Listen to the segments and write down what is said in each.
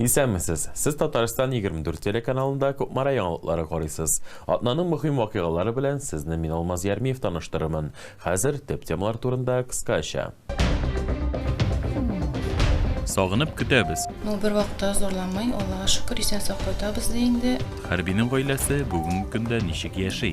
Исәнмесез! Сез Татарстан 24 телеканалында Кукмара яңалыклары карыйсыз. Атнаның мөһим вакыйгалары белән сезне мин Алмаз Ярмиев таныштырырмын. Хәзер төп темалар турында кыскача. Сагынып көтәбез! Ну, бервакытта зурламый, Аллага шөкер, исән-сау кайтабыз, ди инде. Хәрбинең гаиләсе бүгенге көндә ничек яши?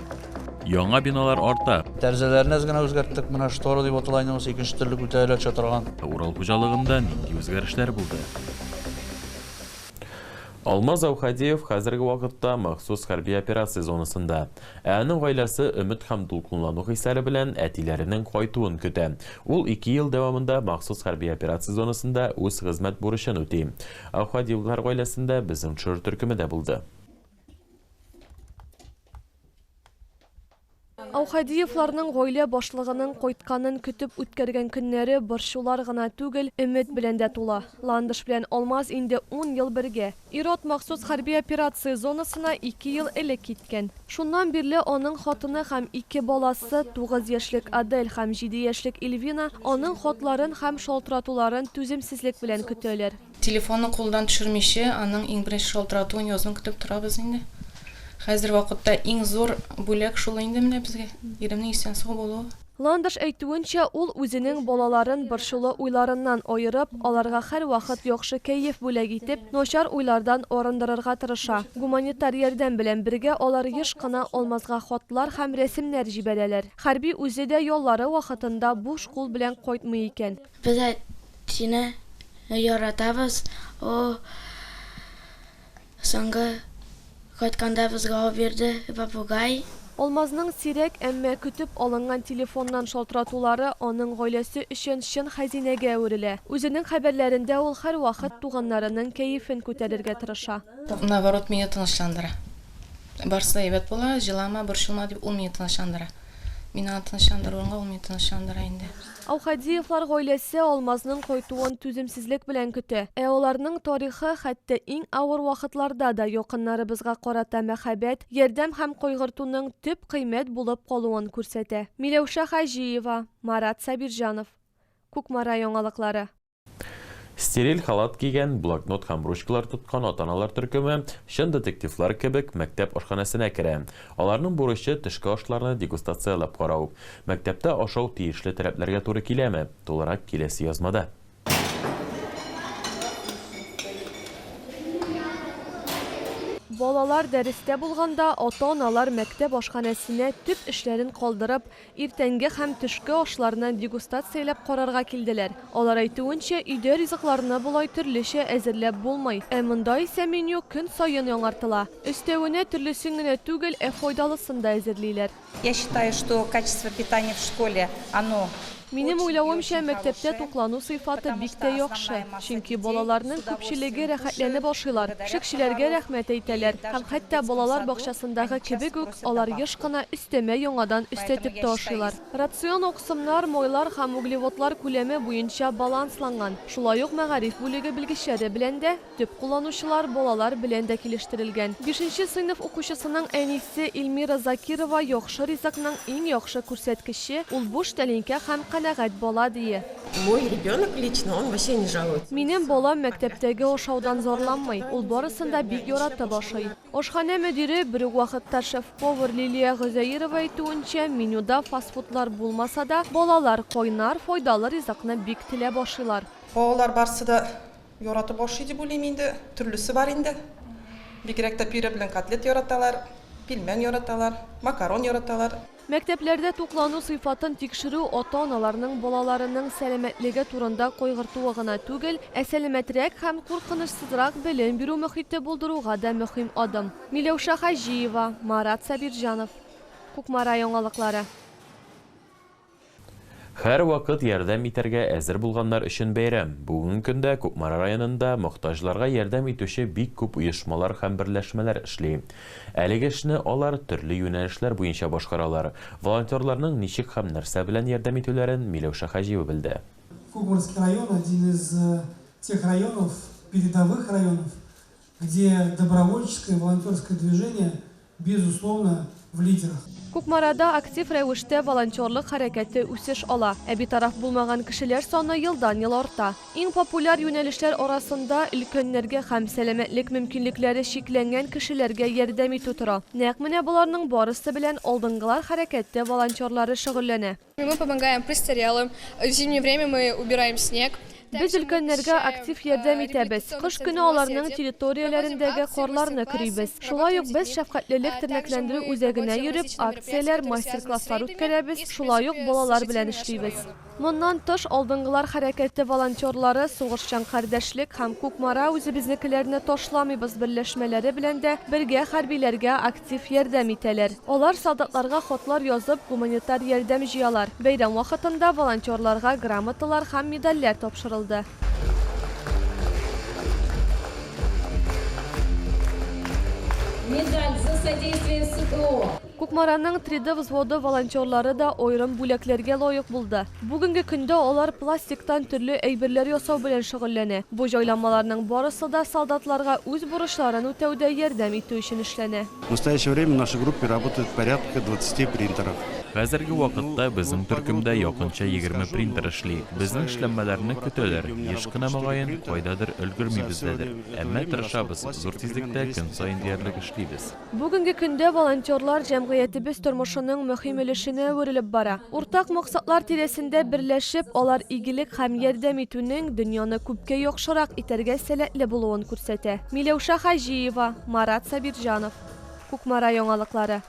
Яңа биналар арта. Тәрзәләрне әз генә үзгәрттек. Менә штора дип атала инде монысы, икенче төрле күтәрелә төшә торган. Ә Урал хуҗалыгында нинди үзгәрешләр булды? Алмаз Әүхәдиев хәзерге вакытта махсус хәрби операция зонасында. Ә аның гаиләсе өмет һәм дулкынлану хисләре белән әтиләренең кайтуын көтә. Ул ике ел дәвамында махсус хәрби операция зонасында үз хезмәт бурычын үти. Әүхәдиевлар гаиләсендә безнең төшерер төркеме дә булды. Аухадиевларның гаилә башлыгының кайтканын көтеп үткәргән көннәре борчулар гына түгел, өмет белән дә тула. Ландыш белән Алмаз инде ун ел бергә. Ир-ат махсус хәрби операция зонасына ике ел элек киткән. Шуннан бирле аның хатыны һәм ике баласы, тугыз яшьлек Адель һәм җиде яшьлек Ильвина, аның хатларын һәм шалтыратуларын түземсезлек белән көтәләр. Телефонны кулдан төшермиче, аның иң беренче шалтыратуын язын көтеп торабыз инде. Хәзер вакытта иң зур бүләк шул инде менә безгә, иремнең исән-сау булуы. Ландыш әйтүенчә, ул үзенең балаларын борчулы уйларыннан аерып, аларга һәрвакыт яхшы кәеф бүләк итеп, начар уйлардан арындырырга тырыша. Гуманитар ярдәм белән бергә алар еш кына Алмазга хатлар һәм рәсемнәр җибәрәләр. Хәрби үзе дә яллары вакытында буш кул белән кайтмый икән. Без әтине яратабыз, ул соңгы кайтканда безгә ул бирде, попугай. Алмазның сирәк, әмма көтеп алынган телефоннан шалтыратулары аның гаиләсе өчен чын хәзинәгә әверелә. Үзенең хәбәрләрендә ул һәрвакыт туганнарының кәефен күтәрергә тырыша. Наоборот, мине тынычландыра. Барысы да әйбәт була, җылама, борчылма, дип ул мине тынычландыра. Мин аны тынычландырганга, ул мине тынычландыра инде. Аухадиевлар гаиләсе Алмазның кайтуын түземсезлек белән көтә. Ә аларның тарихы хәтта иң авыр вакытларда да якыннарыбызга карата мәхәббәт, ярдәм һәм кайгыртуның төп кыйммәт булып калуын күрсәтә. Миләүшә Хаҗиева, Марат Сабирҗанов. Кукмара яңалыклары. Стериль халат кигән, блокнот һәм ручкалар тоткан ата-аналар төркеме, чын детективлар кебек, мәктәп ашханәсенә керә. Аларның бурычы, төшке ашларны дегустацияләп карау. Мәктәптә ашау тиешле таләпләргә туры киләме? Тулырак киләсе язмада. Балалар дәрестә булганда, ата-аналар мәктәп ашханәсенә төп эшләрен калдырып, Иртәнге һәм төшке ашларны дегустацияләп карарга килделәр. Алар әйтүенчә, өйдә ризыкларны болай төрлечә әзерләп булмый. Ә монда исә меню көн саен яңартыла. Өстәвенә, төрлесен генә түгел, ә файдалысын да әзерлиләр. Я считаю, что качество питания в школе, оно очень и очень хорошее. Минем уйлавымча, мәктәптә туклану сыйфаты бик тә яхшы, чөнки балаларның күпчелеге рәхәтләнеп ашыйлар, пешекчеләргә рәхмәт әйтәләр һәм хәтта балалар бакчасындагы кебек үк, Алар еш кына өстәмә яңадан өстәтеп тә ашыйлар. Рацион аксымнар, майлар һәм углеводлар күләме буенча балансланган, шулай ук мәгариф бүлеге белгечләре белән дә, төп кулланучылар, балалар белән дә килештерелгән. Бишенче сыйныф укучысының әнисе Эльмира Закирова яхшы ризыкның иң яхшы күрсәткече, ул буш тәлинкә һәм канәгать бала, ди. Мой ребенок лично, он вообще не жалуется. Минем балам мәктәптәге ашаудан зарланмый, ул барысын да бик яратып ашый. Ашханә мөдире, бер үк вакытта шеф-повар Лилия Гозәерова әйтүенчә, менюда фастфудлар булмаса да, балалар кайнар, файдалы ризыкны бик теләп ашыйлар. Балалар барсы да яратып ашый дип уйлыйм инде. Төрлесе бар инде. Бигрәк тә пюре белән котлет яраталар, пилмән яраталар, макарон яраталар. Мәктәпләрдә туклану сыйфатын тикшерү ата-аналарның балаларының сәламәтлеге турында кайгыртуы гына түгел, ә сәламәтрәк һәм куркынычсызрак белем бирү мохите булдыруга да мөһим адым. Миләүшә Хаҗиева, Марат Сабирҗанов. Кукмара яңалыклары. Һәрвакыт ярдәм итәргә әзер булганнар өчен бәйрәм. Бүген көндә Кукмара районында мохтаҗларга ярдәм итүче бик күп оешмалар һәм берләшмәләр эшли. Әлеге эшне алар төрле юнәлешләр буенча башкаралар. Волонтерларның ничек һәм нәрсә белән ярдәм итүләрен Миләүшә Хаҗиева белде. Кубрский район один из тех районов, передовых районов, где добровольческое волонтерское движение Безусловно, в лидерах. Кукмарада актив рәвештә волонтерлык хәрәкәте үсеш ала, ә битараф булмаган кешеләр саны елдан-ел арта. Иң популяр юнәлешләр арасында өлкәннәргә һәм сәламәтлек мөмкинлекләре чикләнгән кешеләргә ярдәм итү тора. Нәкъ менә боларның барысы белән алдынгылар хәрәкәте волонтерлары шөгыльләнә. Без өлкәннәргә актив ярдәм итәбез, кыш көне аларның территорияләрендәге карларны көрибез. Шулай ук без шәфкатьлелек тернәкләндерү үзәгенә йөреп, акцияләр, мастер-класслар үткәрәбез, шулай ук балалар белән эшлибез. Моннан тыш, Алдынгылар хәрәкәте волонтерлары Сугышчан кардәшлек һәм Кукмара үзебезнекеләрне ташламыйбыз берләшмәләре белән дә бергә хәрбиләргә актив ярдәм итәләр. Алар солдатларга хатлар язып, гуманитар ярдәм җыялар. Бәйрәм вакытында волонтерларга грамоталар һәм медальләр тапшырылды. Медаль за содействие СВО. Кукмараның Триды взводы волонтерлары да аерым бүләкләргә лаек булды. Бүгенге көндә алар пластиктан төрле әйберләр ясау белән шөгыльләнә. Бу җайланмаларның барысы да солдатларга үз бурычларын үтәүдә ярдәм итү өчен эшләнә. В настоящее время в нашей группе работает порядка 20 принтеров. Хәзерге вакытта безнең төркемдә якынча егерме принтер эшли. Безнең эшләнмәләрне көтәләр, еш кына мөгаен, кайдадыр өлгермибез дәдер. Әмма тырышабыз, зур тизлектә көн саен диярлек эшлибез. Бүгенге көндә волонтерлар җәмгыятебез тормышының мөһим өлешенә әверелеп бара. Уртак максатлар тирәсендә берләшеп, алар игелек һәм ярдәм итүнең дөньяны күпкә яхшырак итәргә сәләтле булуын күрсәтә. Миләүшә Хаҗиева. Марат Сабирҗанов. Кукмара яңалыклары.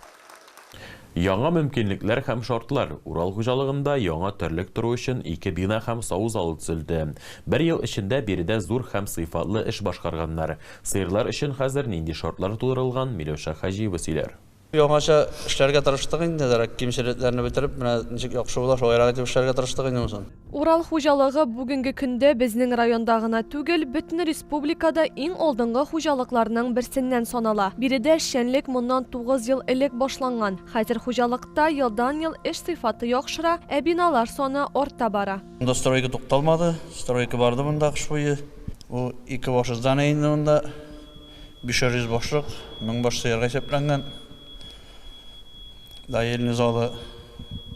Яңа мөмкинлекләр һәм шартлар. Урал хуҗалыгында яңа терлек тору өчен ике бина һәм саву залы төзелде. Бер ел эчендә биредә зур һәм сыйфатлы эш башкарганнар. Сыерлар өчен хәзер нинди шартлар тудырылган, Миләүшә Хаҗиева сөйләр. Яңача эшләргә тырыштык инде, дәрәк кимчелекләрне бетереп, менә ничек яхшы була, шулайрак итеп эшләргә тырыштык инде монысын. Урал хуҗалыгы бүгенге көндә безнең районда гына түгел, бөтен республикада иң алдынгы хуҗалыкларның берсеннән санала. Биредә эшчәнлек моннан тугыз ел элек башланган. Хәзер хуҗалыкта елдан-ел эш сыйфаты яхшыра, ә биналар саны арта бара. Монда стройка тукталмады, стройка барды монда кыш буе. Бу ике башы здание инде монда. Бишәр йөз башлык, мең баш сыерга исәпләнгән доельне залы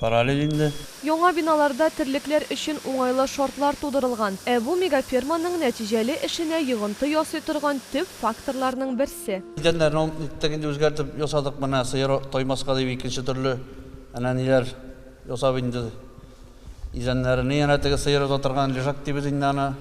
параллель инде. Яңа биналарда терлекләр өчен уңайлы шартлар тудырылган. Ә бу мегаферманың нәтиҗәле эшенә йогынты ясый торган төп факторларның берсе. Идәннәрне ул ниттек инде үзгәртеп ясадык, менә сыер таймаска дип икенче төрле әнә ниләр ясап инде. Идәннәренә янә теге сыер уза торган лежак дибез инде аны.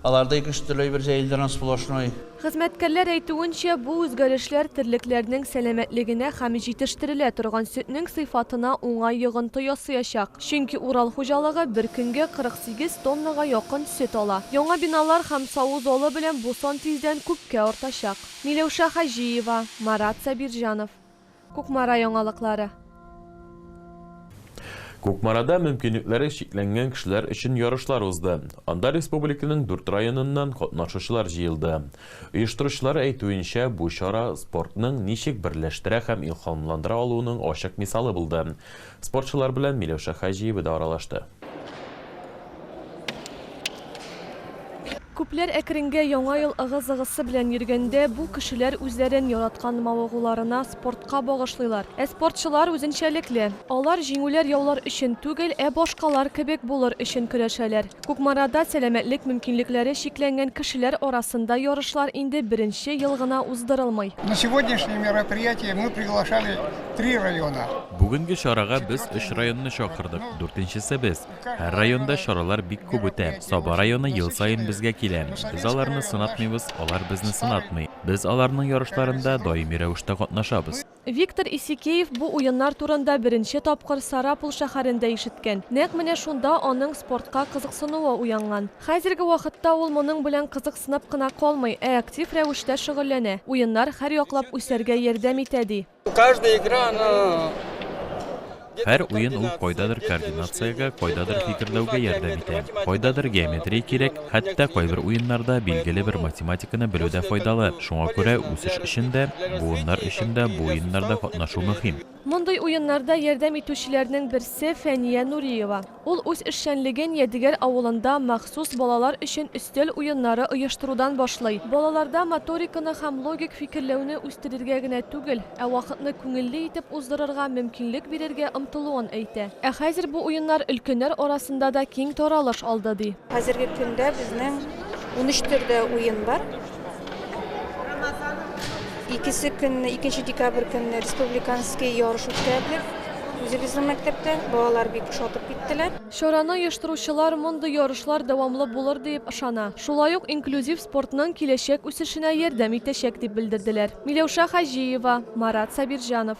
Аларда ике-өч төрле әйбер җәелдергән сплошной. Хезмәткәрләр әйтүенчә, бу үзгәрешләр терлекләрнең сәламәтлегенә һәм җитештерелә торган сөтнең сыйфатына уңай йогынты ясыячак. Чөнки Урал хуҗалыгы бер көнгә 48 тоннага якын сөт ала. Яңа биналар һәм саву залы белән бу сан тиздән күпкә артачак. Миләүшә Хаҗиева, Марат Сабирҗанов. Кукмара яңалыклары. Кукмарада мөмкинлекләре чикләнгән кешеләр өчен ярышлар узды. Анда республиканың дүрт районыннан катнашучылар җыелды. Оештыручылар әйтүенчә, бу чара спортның ничек берләштерә һәм илһамландыра алуының ачык мисалы булды. Спортчылар белән Миләүшә Хаҗиева да аралашты. Күпләр әкренгә яңа ел ыгы-зыгысы белән йөргәндә, бу кешеләр үзләрен яраткан мавыгуларына спортка багышлыйлар. Ә спортчылар үзенчәлекле. Алар җиңүләр-яулар өчен түгел, ә башкалар кебек булыр өчен көрәшәләр. Кукмарада сәламәтлек мөмкинлекләре чикләнгән кешеләр арасында ярышлар инде беренче ел гына уздырылмый. На сегодняшнее мероприятие мы приглашали три района. Бүгенге чарага без өч районны чакырдык, дүртенчесе без. Һәр районда чаралар бик күп үтә. Саба районы ел саен безгә килә. Без аларны сынатмыйбыз, алар безне сынатмый. Без аларның ярышларында даими рәвештә катнашабыз. Виктор Исикеев бу уеннар турында беренче тапкыр Сарапул шәһәрендә ишеткән. Нәкъ менә шунда аның спортка кызыксынуы уянган. Хәзерге вакытта ул моның белән кызыксынып кына калмый, ә актив рәвештә шөгыльләнә. Уеннар һәрьяклап үсәргә ярдәм итә, ди. Һәр уен ул кайдадыр координациягә, кайдадыр фикерләүгә ярдәм итә. Кайдадыр геометрия кирәк, хәтта кайбер уеннарда билгеле бер математиканы белү дә файдалы. Шуңа күрә үсеш өчен дә, буыннар өчен дә бу уеннарда катнашу мөһим. Мондый уеннарда ярдәм итүчеләрнең берсе Фәния Нуриева. Ул үз эшчәнлеген Ядегәр авылында махсус балалар өчен өстәл уеннары оештырудан башлый. Балаларда моториканы һәм логик фикерләүне үстерергә генә түгел, ә вакытны күңелле итеп уздырырга мөмкинлек бирергә омтылуын әйтә. Ә хәзер бу уеннар өлкәннәр арасында да киң таралыш алды, ди. Хәзерге көндә безнең унөч төрдә уен бар. Икесе көнне, икенче декабрь көнне республиканский ярыш үткәрелеп, үзебезнең мәктәптә балалар бик шатып киттеләр. Чараны оештыручылар мондый ярышлар дәвамлы булыр дип ышана. Шулай ук инклюзив спортның киләчәк үсешенә ярдәм итәчәк, дип белдерделәр. Миләүшә Хаҗиева, Марат Сабирҗанов.